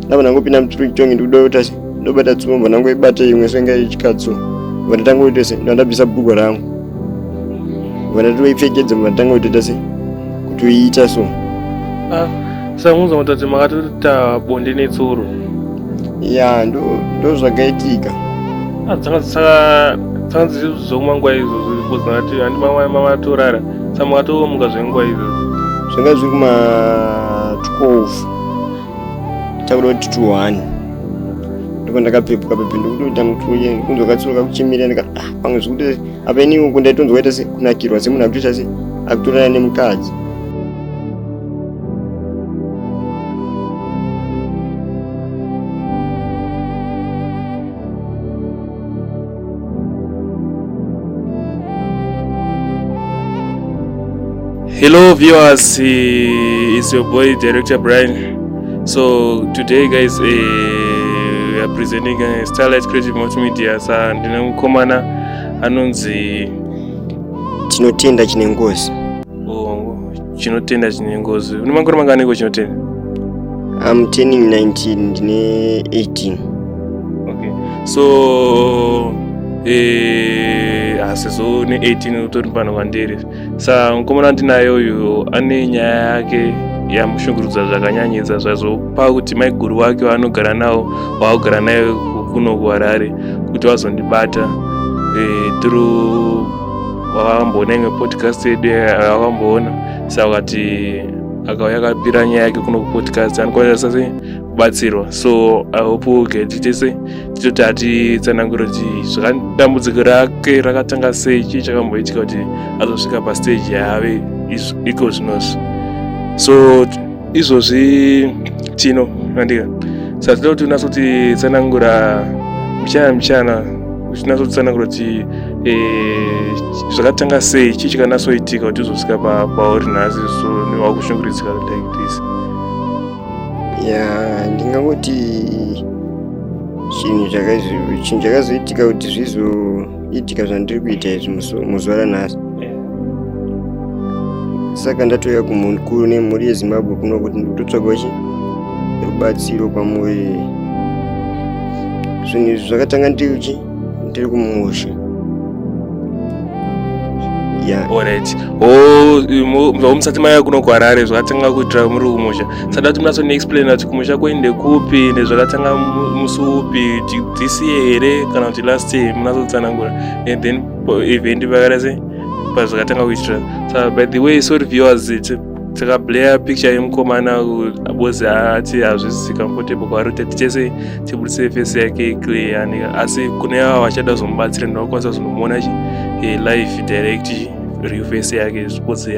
navo nangopinda muchiri chitongi ndikuda kuita se ndobata tsumbo nangoibata imwe senge ichikatso vandatanga kuita se ndandabvisa bhugo rangu vandati vaipfekedza vandatanga kutoita se kuti uiita so ah, saunza mutati makatoita bonde netsoro ya ndozvakaitika ah, dzanga dzichizoma nguva izvozvo because ndati handi mama mama atorara samakatomuka zvenguva izvozvo zvanga zviri kuma 12 takuda kuti tuhani ndipo ndakapepuka pepe ndikutoita mutuye kunzwa katsuro kakuchimira ndikati ah pamwe zvikuti apa ini uku ndaitonzwa ita sekunakirwa semunhu akutoita se akutorana nemukadzi hello viewers is your boy director brian so today guys uh, we are presenting uh, starlight creative multimedia sa ndine mukomana anonzi tinotenda chine ngozi chinotenda chine ngozi une makore mangani ko chinotenda am turning 19 ndine 18 okay so eh, asizo ne 18 utori pano kwandiri sa mukomana andinayo uyu ane nyaya yake yamushungurudza zvakanyanyisa zvazopa kuti maiguru wake waanogara nawo waakugara nayo kuno kuharare kuti vazondibata eh, through vakamboona imwe podcast yedu vakamboona saka kati akauya akapira nyaya yake kuno kupodcast anokwanisa sei kubatsirwa so i hope uge tichese tichoti atitsanangure kuti zvakadambudziko rake rakatanga sei chii chakamboitika kuti azosvika pastage yaave iko zvinozvi so izvozvi tino andika saka tinoda kuti unase kuti tsanangura mchana mchana uchinasa kutsanangura kuti eh, zvakatanga sei chii chikanasoitika kuti uzosvika pauri nhasi so wakushunguridzika like this ya ndingangoti chinhu chinhu chakazoitika kuti zvizo idya zvandiri kuita izvi muzuva ranhasi saka ndatouya kumukuru nemhuri yezimbabwe kuno kuti ndikutotsvagawo chi rubatsiro kwamuri zvinhu izvi zvakatanga ndiri chi ndiri kumusha orit o musati maya kuno kuharare zvakatanga kuitira muri kumusha sada kuti munatso neexplaina kuti kumusha kwenyu ndekupi ndezvakatanga musi upi this year here kana kuti last year munatsotsanangura and then event pakada se pazvakatanga kuitira sa by the way sorry viewers takablaya picture yemukomana bozi ati hazvisi comfortable kwaari kuti tichese tibudise face yake clear asi kune ava vachada kuzomubatsira ndinokwanisa kuzonomuona chi eh, live direct real face yake because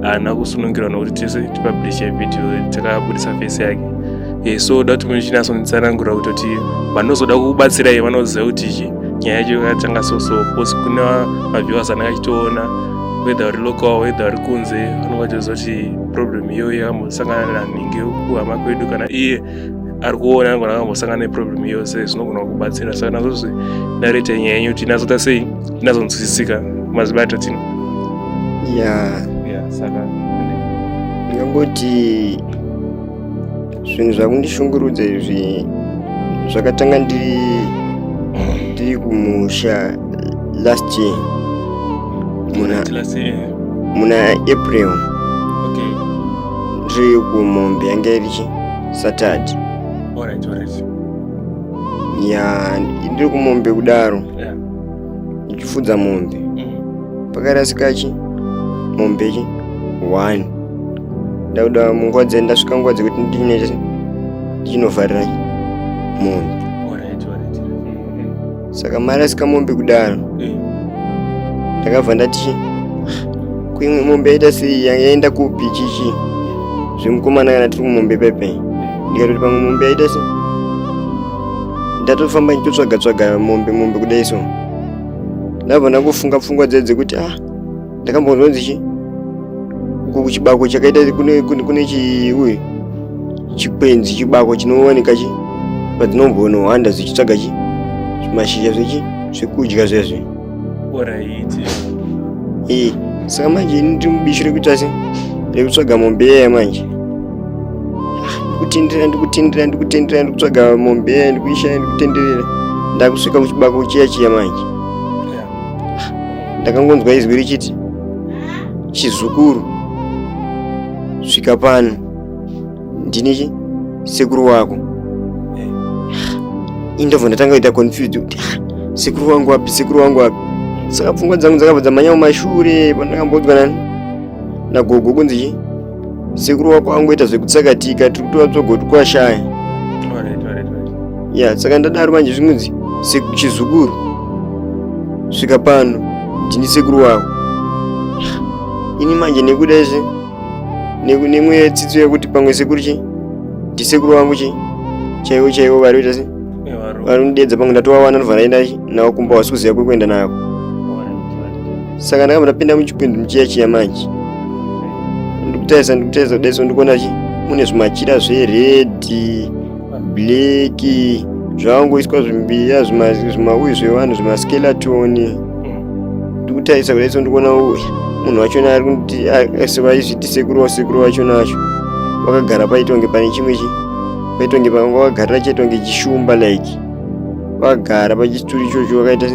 haana kusunungirwa nokuti tese tipublishe video takabudisa face yake e, so da kuti muchinasonitsanangura kutoti vanozoda kukubatsirai vanoziva kuti chi nyaya yacho yakatanga soso because kuna maviewers anenge achitoona whether uri local whether uri kunze vanenge vachizoti problem iyoyo yakambosangana nanhingi kuhama kwedu kana iye ari kuona angona akambosangana neproblem yose zvinogona kubatsira saka nazo zve nareta nyaya yenyu kuti inazoita sei inazonzwisisika mazibata tino ya saka ndingangoti zvinhu zvakundishungurudza izvi zvakatanga ndiri ndiri kumusha last year muna muna april Ndiri kumombe yange iri chi? Saturday. Alright, alright. Ya, ndiri kumombe kudaro. Yeah. Ndichifudza mombe. Mm. Pakarasika chi? Mombe chi? One. Ndakuda munguva dze ndasvika nguva dzekuti ndine ndichinovharira mombe. saka mari asika mombe kudaro eh. ndakabva ndati kuimwe mombe yaita sei yaenda kupi chichi zvemukomana kana tiri kumombe pepe ndikatoti pamwe mombe yaita se ndatofamba ndichitsvaga tsvaga mombe mombe kudai so ndabva ndakufunga pfungwa dzedze kuti ah ndakambonzwanzi chi kuku chibako chakaita kune, kune, kune chi uye chikwenzi chibako chinowanika chi padzinongonohanda zvichitsvaga chi mashizha zvechi zvekudya zvezve oraiti ee saka manje ini ndiri mubishi rekuita se rekutsvaga mombe yaya manje ndikutendera ndikutendera ndikutendera ndikutsvaga mombe yaya ndikuishaya ndikutenderera ndakusvika kuchibako chiya chiya manje ndakangonzwa izwi richiti chizukuru svika pano ndini sekuru wako ini ndobva ndatanga kuita confused kuti "Ah, sekuru wangu wapi sekuru wangu wapi saka pfungwa dzangu dzakabva dzamanya kumashure pandakamboudzwa na- nagogo kunzi chii sekuru wako angoita zvekutsakatika tiri kutora tsogoti kwashaya ya saka ndadaro manje zvinonzi chizukuru svika pano ndini sekuru wako ini manje nekuda izvi nemweya yetsidzo yekuti pamwe sekuru chi ndisekuru wangu chi chaivo chaivo vari kuita se vari kundidedza pamwe ndatovawana ndobva ndaenda navo kumba wasi kuziva kwekuenda nako saka ndakabva ndapinda muchikwindi muchiya chiya manje ndikutarisa ndikutarisa kudaiso ndikuona chi mune zvimachira zveredhi bleki zvakangoiswa zvimbiya zvimauyi zvevanhu zvimaskelatoni ndikutarisa kudaiso ndikuona uyu munhu wachona ari kuti asivaizviti sekuru wasekuru wachona wacho wakagara paitonge pane chimwe chi paitonge panga wakagarira chaitonge chishumba like vagara pachituri ichocho vakaita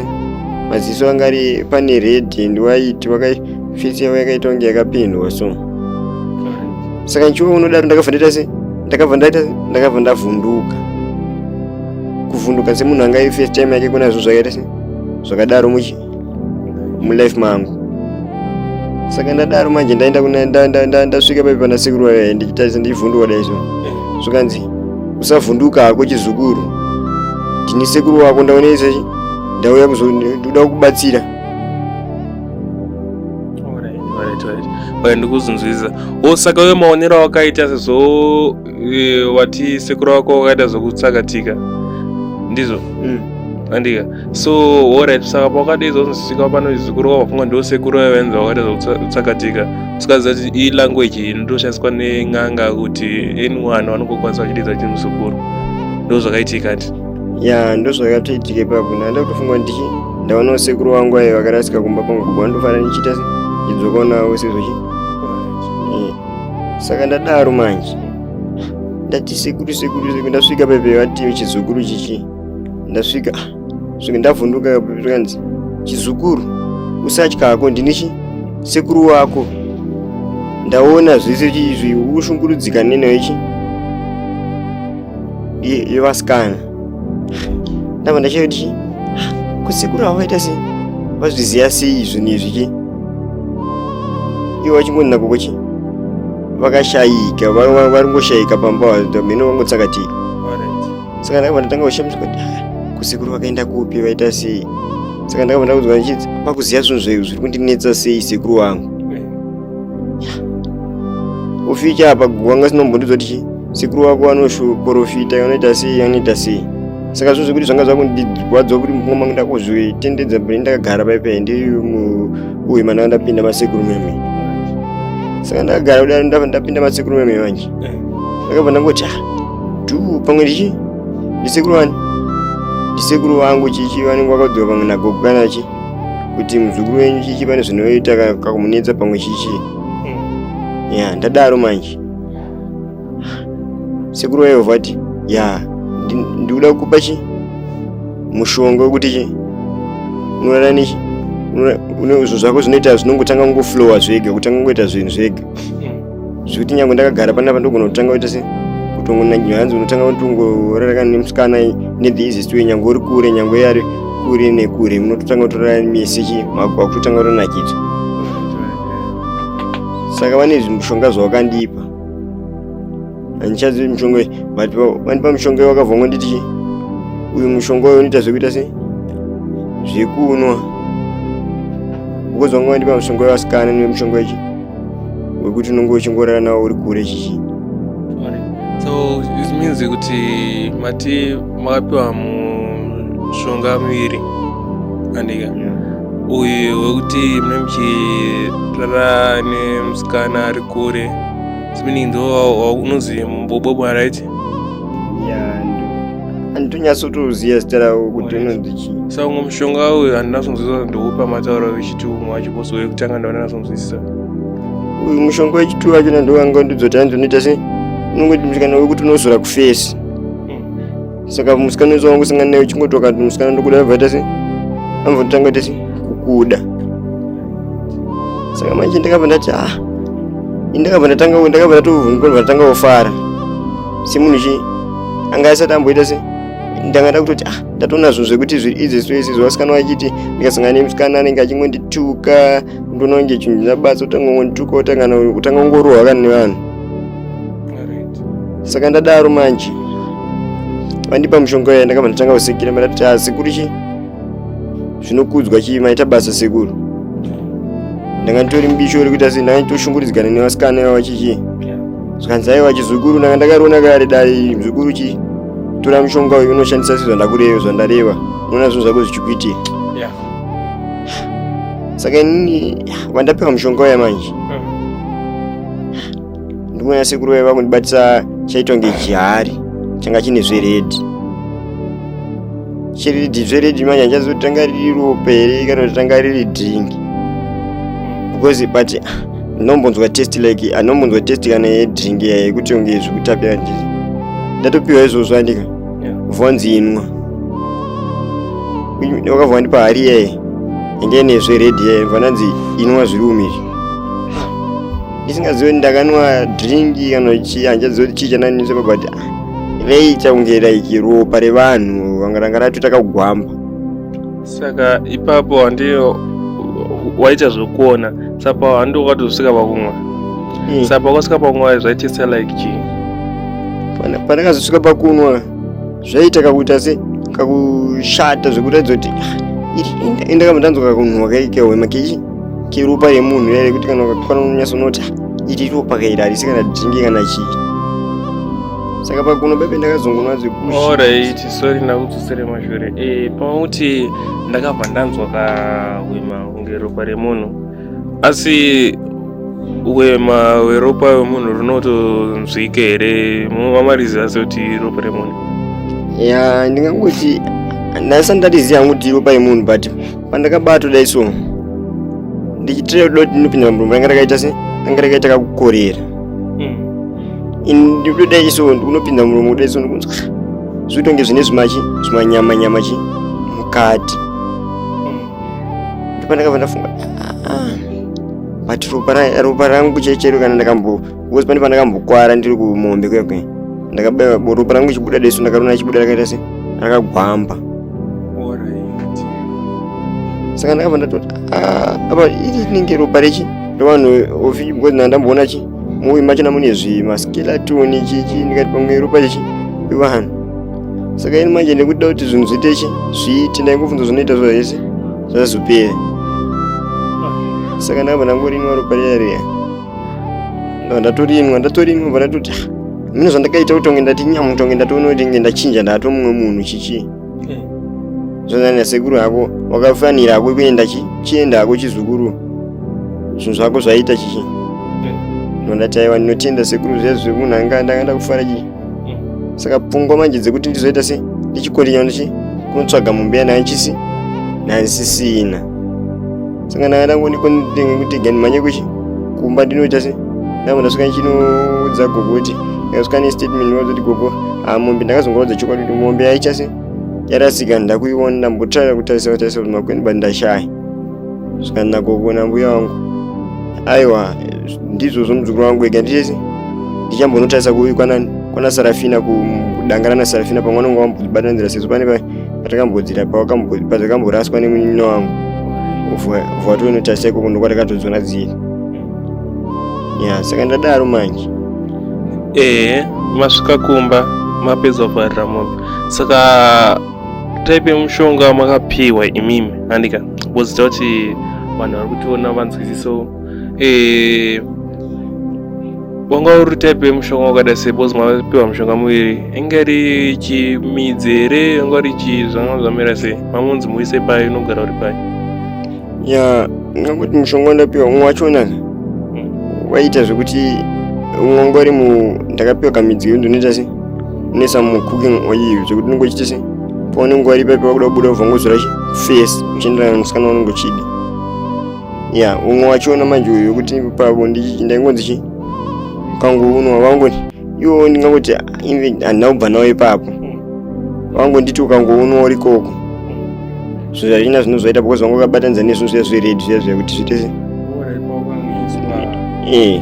maziso anga ari pane red and white vakafesi yavo yakaita kunge yakapendwa so saka nchiwo unodaro ndakabva ndaita se ndakabva ndaita ndakabva ndavhunduka kuvhunduka semunhu anga first time yake kunazvo zvakaita se zvakadaro muchi mulife mangu saka ndadaro manje ndaenda ndasvika paipi pana sekuru wayo ndichitarisa ndichivhunduka daizvo zvikanzi usavhunduka hako chizukuru ndini sekuru wako ndaonese ndauya kuzoda kubatsira ndikuzunzwisa osaka uyo maonero awakaita sezvo Eh, wati sekuru wako wakaita zvokutsakatika ndizvo mm. andika so orit saka pakadi izozosvika pano zvikuru kwavafunga ndo sekuru vavenza wakaita zvokutsakatika usikaziva kuti iyi language iyi ndoshandiswa nen'anga kuti anyone vanongokwanisa vachididza chinhu zukuru ndo zvakaitika ti ya ndo zvakatoitika ipapo ndaenda kutofunga kuti ndichi ndaonawo sekuru wangu ayo vakarasika kumba kwangu kubva ndofanira ndichiita idzokonawo sezvochi saka ndadaro manje ndati sekuru sekuru sekuru ndasvika pepe vati chizukuru chichi ndasvika ah, svika ndavhunduka kanzi chizukuru usatya hako ndini chi sekuru wako ndaona zvese izvi ukushungurudzika neno ichi yevasikana ndava ndachaiva kuti kusekuru avo vaita sei vazviziva sei zvinhu izvi chi ivo vachingonina koko chi vakashayika vari ngoshayika pamba mheno vangotsakatika saka ndakabva ndatanga kushamiswa kuti kusekuru vakaenda kupi vaita sei saka ndakabva ndakudzwa ndichiti pakuziva zvinhu zvaizvo zviri kundinetsa sei sekuru wangu uficha apa gogo wanga sinombondiudza kuti chii sekuru wako vanoprofita anoita sei anoita sei saka zvo zvekuti zvanga zvakundirwadza kuti mumwe mangu ndakuzvitendedza bri ndakagara paipai ndiuye mananga ndapinda masekuru meme saka ndakagara kudaro ndapinda masekuru meme manje eh. ndakabva ndangoti a ah, du pamwe ndichi ndisekuru wani ndisekuru wangu chichi vanenge vakadzoka pamwe nagogo kana chii kuti muzukuru wenyu chichi pane zvinoita kakumunetsa pamwe chichi hmm. ya ndadaro manje sekuru wayo vati ya ndikuda kukupa chi mushonga wekuti chi unorara nechi une izvo zvako zvinoita zvinongotanga kungoflowa zvega kutanga kungoita zvinhu zvega hmm. zvekuti nyange ndakagara panapa ndogona kutanga kuita se kutongonangiwa hanzi unotanga kutongoraraka nemusikana nethe easiest way nyange uri kure nyange yari kure nekure munototanga kutorara mese chi mako wakutotanga kutonakidzwa saka vane zvimushonga zvawakandipa handichazivi mushonga uyu but vandipa mushonga uyu wakabva ngonditi chi uyu mushonga uyu unoita zvekuita se zvekunwa ukozonga wandipa mushonga uyu wasikana nemushonga wechi wekuti unenge uchingorara nawo uri kure chichi so this means kuti mati makapiwa mushonga miviri andika yeah. uyu wekuti mune muchirara nemusikana ari kure meaning ndo unonzi mbobobwa right yeah. anditonyatsotoziva zita ravo kuti unonzi chii sa umwe mushonga uyu handina kunzwisisa ndoupa matauro vechiti umwe wacho bose uye kutanga ndaona nakunzwisisa uyu mushonga wechituva wacho nandovanga ndidzoti hanzi unoita sei unongoti musikana wekuti unozora kufesi hmm. saka musikana wese wangu singana naye uchingoti wakati musikana ndokuda abvaita sei ambotanga tese kukuda saka manje ndakabva ndati ah ndakabva ndatanga ndakabva ndatovhunga ndatanga kufara semunhu chi anga asati amboita se ndanga ndakutoti ah ndatoona zvinhu zvekuti zviri izi soisi zvasikana vachiti ndikasangana nemusikana anenge achingondituka ndoona kunge chinhu chinabasa kutanga kungondituka kutanga kungorohwa kana nevanhu saka ndadaro manje vandipa mushonga uya ndakabva ndatanga kusekera mandatoti a ah, sekuru chi zvinokudzwa chii maita basa sekuru ndanga nditori mubisho rekuita sei ndanga nditoshunguridzikana nevasikana vavachichii zvikanzi aiwa chizukuru ndanga ndakariona kare dai mzukuru chi tora mushonga uyu unoshandisa sezvandakureva zvandareva unoona zvinhu zvako zvichikuitia yeah. saka inini vandapiwa mushonga uya manje mm. ndimona sekuru vaiva kundibatisa chaitwa ngechihari changa chine zveredhi chiridhi zveredhi manje handichazotanga riri ropa here kana kuti tanga riri dringi because but ah, Anombonzwa test like anombonzwa test kana yedrink iya yekuti unge zvikutapira ndiri. Ndatopiwa izvozvo andika. Vonzi inwa. Wakavwa ndipa hari iyaye. Inge ine zve red iyaye vananzi inwa zviri umizvi. Ndisingaziwe ndakanwa drink kana chii hanjaziwe kuti chii chananisa but reiita kunge like ropa revanhu vanga ranga ratotaka kugwamba. saka ipapo handiyo waita zvekuona sapa handiwo kwatozosvika pakumwa hmm. sapa kwasvika pakumwa zvaitisa like chii pandakazosvika pakunwa zvaita kakuita se kakushata zvekuratidza kuti ah, indakamba ndanzwa kakunhuwa kaikehwema kechi keropa remunhu yare kuti kana ukakwana unonyasa unoti ah, iri ropa kairi harisi kana dhingi kana chii saka pakuno bebe ndakazongonwa zvekushi sorry ndakudzosere mashure e, eh, pamauti ndakabva ndanzwa kahwema kunge ropa remunhu asi hwema hweropa hwemunhu runotonzwike here mumamarizi asi kuti ropa remunhu ya ndingangoti ndaisati ndatiziva hangu kuti ropa yemunhu but pandakabatwa dai so ndichitireuda kuti ndinopinda murumba anga rakaita se anga rakaita kakukorera ndikutoda iso ndikunopinda muromo kuda iso ndikunzwa zvitonge zvine zvimachi zvimanyama nyama chi mukati ndipo ndakabva ndafunga ah, but ropa rangu chechero kana ndakambo because pane pandakambokwara ndiri kumombe kwekwe ndakabaya ropa rangu chibuda deso ndakarona chibuda rakaita se rakagwamba saka ndakabva ndatoti ah, apa iri rinenge ropa rechi ndovanhu ofi because ndandamboona chi muimba machina mune zvimaskeletoni chichi ndikati pamwe ropa ichi ivanhu saka ini manje ndikuda kuti zvinhu zviite chi zviite ndaingofunza zvinoita zvo hese zvazopera saka ndakabva ndangorinwa ropa riya riya ndava ndatorinwa ndatorinwa bva ndatoti ah, mine zvandakaita kutonge ndati nyamutonge ndatoona kuti nge ndachinja ndato mumwe munhu chichii eh. zvanyanya sekuru hako wakafanira hako kuenda chienda hako chizukuru zvinhu zvako zvaita chichi eh. ndondati aiwa ndinotenda sekuru zvezvo zvekunhu anga ndanga ndakufara chii eh. saka pfungwa manje dzekuti ndizoita se ndichikondinya ndichi kunotsvaga mumbeya nayo chisi nansisina saka nanga ndangoni kutega ndimhanye kuchi kumba ndinoita se ndanga ndasvika ndichinoudza gogo kuti ndakasvika nestatement ndinozoti gogo ah, mombe ndakazongoudza chokwadi kuti mombe yaicha se yarasika ndakuiona ndambotraya kutarisa kutarisa kuti makweni but ndashaya saka ndagogo nambuya wangu aiwa ndizvo zvomuzukuru wangu ega ndichese ndichambonotarisa kuikwanani kwana sarafina kudangana nasarafina pamwe anonga wambobatanzira sezvo pane patakambodira pazakamboraswa nemunino wangu vatonotaseko kuno kwatakatodzona dziri ya saka ndadaro manje ehe masvika kumba mapedza kuvharira mombe saka type yemushonga makapiwa imimi handika bozita kuti vanhu vari kutiona vanzwisiso eh, wanga uri type yemushonga wakada sei bcause mapiwa mushonga muviri inga ri chimidzi here inga uri chi zvanga zvamira sei mamunzi muise pai unogara uri pai ya ngakuti mushonga wandapiwa umwe wachona hmm. waiita zvekuti umwe wanga uri mu ndakapiwa kamidzi iyo ndinoita sei unesa mucooking oil zvekuti unenge uchiita sei paunenge wari papi wakuda kubuda ubva ngozora face uchienderana musikana waunenge uchida ya umwe wachiona manje uyu wekuti pavo ndaingonzi chi pangu unwa vangoti iwo ndingangoti handina kubva nawo ipapo vangonditi ukangounwa uri koko zvinhu zvachina zvinhu zvaita because vanga vakabatanidza nezvinhu zviya zvered zviya zviya kuti zviite se ee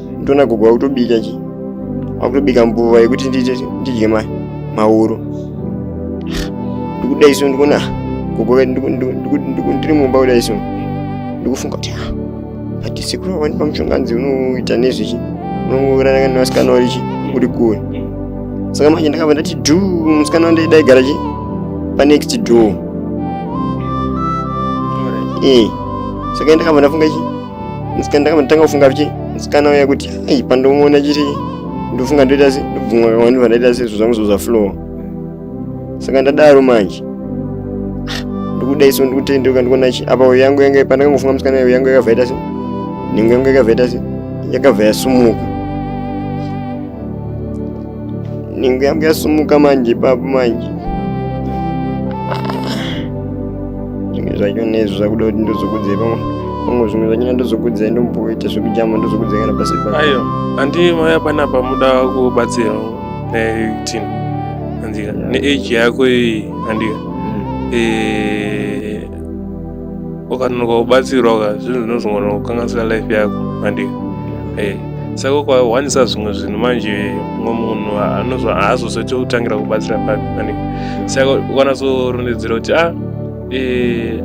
ndona gogo vakutobika chi vakutobika mbuva yekuti ndiite ndidye ma mauro ndikuda isu ndikuona gogo vedu ndiku- ndiku- ndiku- ndiku- ndiri mumba kuda isu ndikufunga kuti ah, but sekuru vandipa mushonganzi unoita nezvechi unongorana nevasikana vari chi uri kure saka manje ndakabva ndati dhu musikana wandai daigara chi panext door eh saka ndakabva ndafunga chi musikana ndakatanga kufunga kuti musikana uya kuti ai pandomuona chiri ndofunga ndoita se ndobvumwa kawani pandaita se zvo zvangu zvoza flowa saka ndadaro manje ndokuda iso ndikutendeuka ndikuona chi apa uyo yangu yanga pandakangofunga musikana uyo yangu yakabva ita se nhengo yangu yakabva ita se yakabva yasumuka Ningu yangu yasumuka manje ipapo manje. Zvimwe zvacho nezvo zvakuda kuti ndozokudze pamwe. Pamwe zvimwe zvacho ndozokudze ndomboita zvekujama ndozokudze kana pasi pa. Ayo, andi maya pana pamuda kubatsira netin. Andika, ne age yako iyi andika. Eh ukanonoka kubatsirwa ka zvinhu zvinozogona kukanganisira life yako mandi eh, saka ukawanisa zvimwe zvinhu manje mumwe munhu haazozoite kutangira kubatsira papi mandi saka ukanazorondedzera kuti a ah, eh,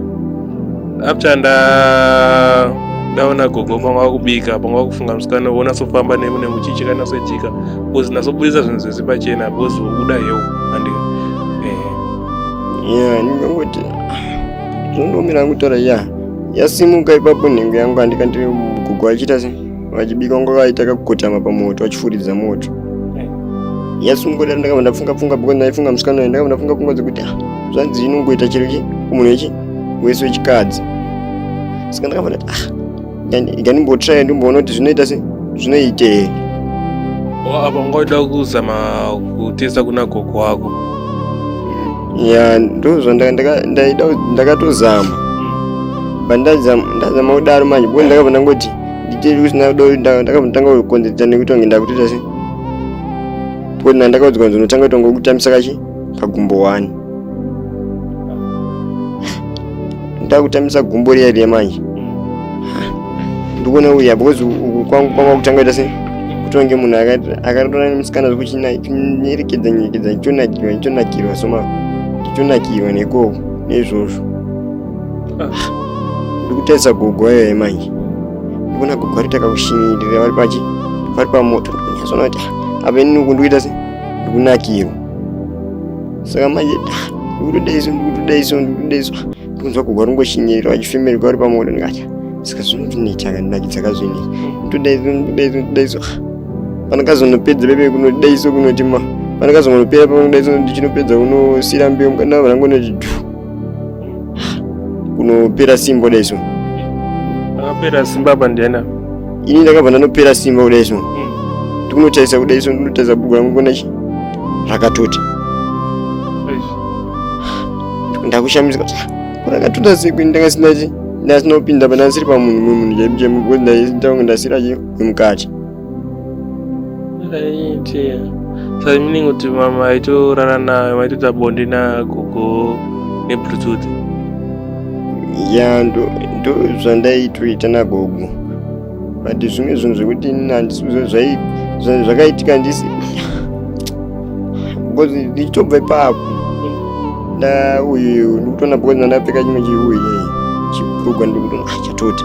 after nda ndaona gogo panga wakubika panga wakufunga musikana wona sofamba nemu nemuchichi kana soitika bcause nasobudisa zvinhu zvese pachena bcause uda yeu andika eh. yeah, Zvinondomira kutaura ya yasimuka ipapo nhengo yangu andika ndiri mugogo vachiita se vachibika kunge vaita kakukotama pamoto vachifuridza moto yasimuka dai ndakabva ndafunga pfunga because ndaifunga musikana uyu ndakabva ndafunga pfunga dzekuti ah, zvanzi inongoita chero chi kumunhu wechi wese wechikadzi saka ndakabva ndati ah ikandimbotraya ndimboona kuti zvinoita se zvinoitei apa ungaida kuzama kutesa kuna gogo wako ya ndozvo ndakatozama pandazama kudaro manje bo ndakabva ndangoti ndichiri kusina kudo ndakabva ndanga kukonzeresa nekuti wange ndakutoita se tikuti na ndakaudzwa kunzi unotanga kutonga kutambisa kachi kagumbo wani ndakutambisa gumbo riya riya manje ndikuona uya because uku kwangu kwava kutanga ita se kutonge munhu akatora nemusikana zvekuchinyerekedza nyerekedza ndichonakirwa ndichonakirwa soma ndichonakirwa nekoko neizvozvo ndikutarisa gogo ayo ye manje ndikuona gogo ari takakushinyirira vari pachi vari pamoto ndikunyazona kuti apa inini uku ndikuita se ndikunakirwa saka manje ndikutoda iso ndikutoda iso ndikutoda iso ndikunzwa kugwa rungoshinyirira vachifemerwa vari pamoto ndikati saka zvinondinetsa kandinakidza kazvine ndoda iso ndoda iso ndoda iso pandakazonopedza pepe kunoda iso kunoti ma pandakazonopera pakunoda iso ndichinopedza kunosiira mbeu mukana vanangonoti dhu kunopera simba kudai so Akapera simba apa ndiani apa? ini ndakabva ndanopera simba kudai so ndikunotarisa kudai so ndinotarisa bhuku rangu kuona chi rakatota Eish. ndakushamisika kuti "Ah, rakatota sei kwini ndanga sina chi ndasina kupinda apa ndasiri pamunhu mumwe munhu chaipo chaipo because ndaisitanga ndasira chi wemukati Aitia. Sasa mimi ningo tu mama aito rara na maito ta bondi na gogo ne bluetooth. Ya ndo ndo zvandaitoita na gogo. But zvimwe zvinhu zvekuti handisi zvai zvakaitika ndisi because ndichitobva ipapo nda uyu ndikutona because ndandapfeka chimwe chiuye chibhurugwa ndikutona ah, chatota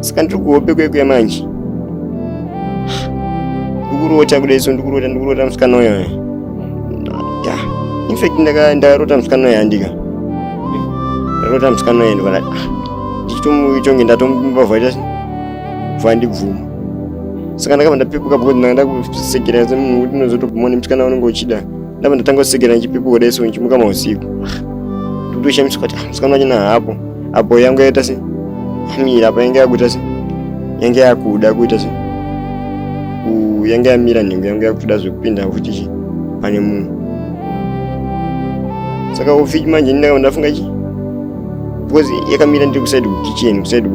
saka ndiri kuhope kwekuya manje ndikurota kuda iso ndikurota ndikurota musikana uyo ya infact ndakarota musikana uyo handika ndarota musikana uyo ndikona ah, ndichitomuitonge ndatomubavhaita vha ndibvuma saka ndakabva ndapepuka because ndanga ndakusekera semunhu kuti unozotobvuma nemusikana unenge uchida ndabva ndatanga kusekera ndichipepuka kuda iso ndichimuka mausiku ah, ndikutoshamiswa kuti ah, musikana wachona haapo apo yangu yaita se yamira apo yange yakuita se yange yakuda kuita se yange yamira nhengo yange yakutoda zvekupinda futi chi pane munhu saka ufiki manje ndindafunga chi because yakamira ndiri kusaidi kukicheni kusaidi